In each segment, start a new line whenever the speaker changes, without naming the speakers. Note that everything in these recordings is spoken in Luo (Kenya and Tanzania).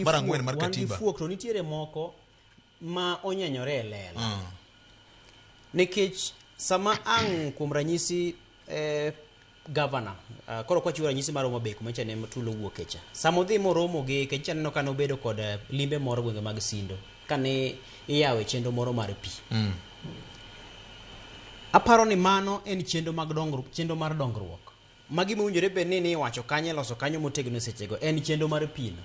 mar ang'wen mar wan gi katiba fuok to nitiere moko
ma onyenyore e lela Ah, nikech sama ang' kuom ranyisi eh, gavana ah, koro kwachiwo ranyisi mar Homa Bay kuma cha ne tulo wuoke cha sama odhi moromo gi kech cha neno ka nobedo kod eh, limbe moro gwenge mag Sindo kane iyawe chenro moro mar pi mm, aparo ni mano en chenro mag dongruok chenro mar dongruok Ma gima owinjore bed ni niwacho kanyo iloso kanyo motegno e sechego en chenro mar pino.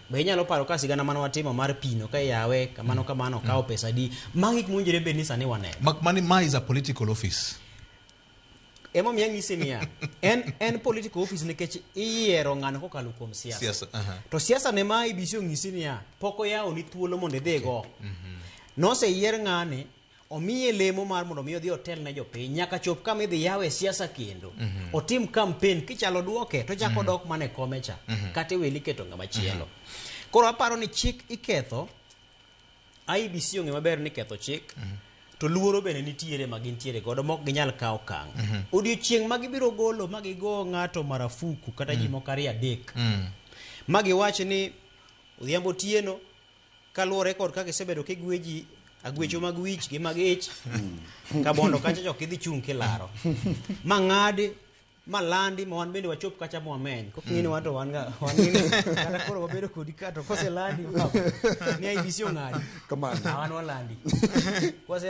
Be inyalo paro ka sigana mane watimo mar pino ka iyawe kamano kamano okawo pesa adi? Magi gik mowinjore bed ni sani waneno. Mak mani ma is a political
office.
Emomiyo anyisi niya, en en political office nikech iyiero ng'ano kokalo kuom siasa. Siasa, aha. To siasa ne ma IBC onyisi niya, pok oyawoni thuolo mondo idhigo. Noseyier ng'ani omiye lemo mar mondo mi odhi otel ne jopiny nyaka chop kama idhi yawe siasa kendo mm -hmm. otim kampen kichalo duoke to chako mm -hmm. dok mane kome cha mm -hmm. kata iweli keto ngama chielo mm -hmm. koro aparo ni chik iketho IBC ong'e maber ni ketho chik mm -hmm to luoro bende nitiere ma gintiere godo mok ginyal kawo kang mm -hmm. odiochieng ma gibiro golo ma gigo ng'ato marafuku kata mm -hmm. ji mhm. moko ariyo adek mm -hmm. ma giwach ni odhiambo tieno kaluwore kod kaka isebedo kigweji agwecho mag wich gi mag ich ka bondo kacha chok idhi chung' kilaro ma ng'adi ma landi ma wan bende wachop kacha ma wameny kok ng'eni wan to wan ga wan ng'eni kata koro wabedo kodi ka to kose landi ma ni IBC ong'adi Kamano. Ah, wan walandi kose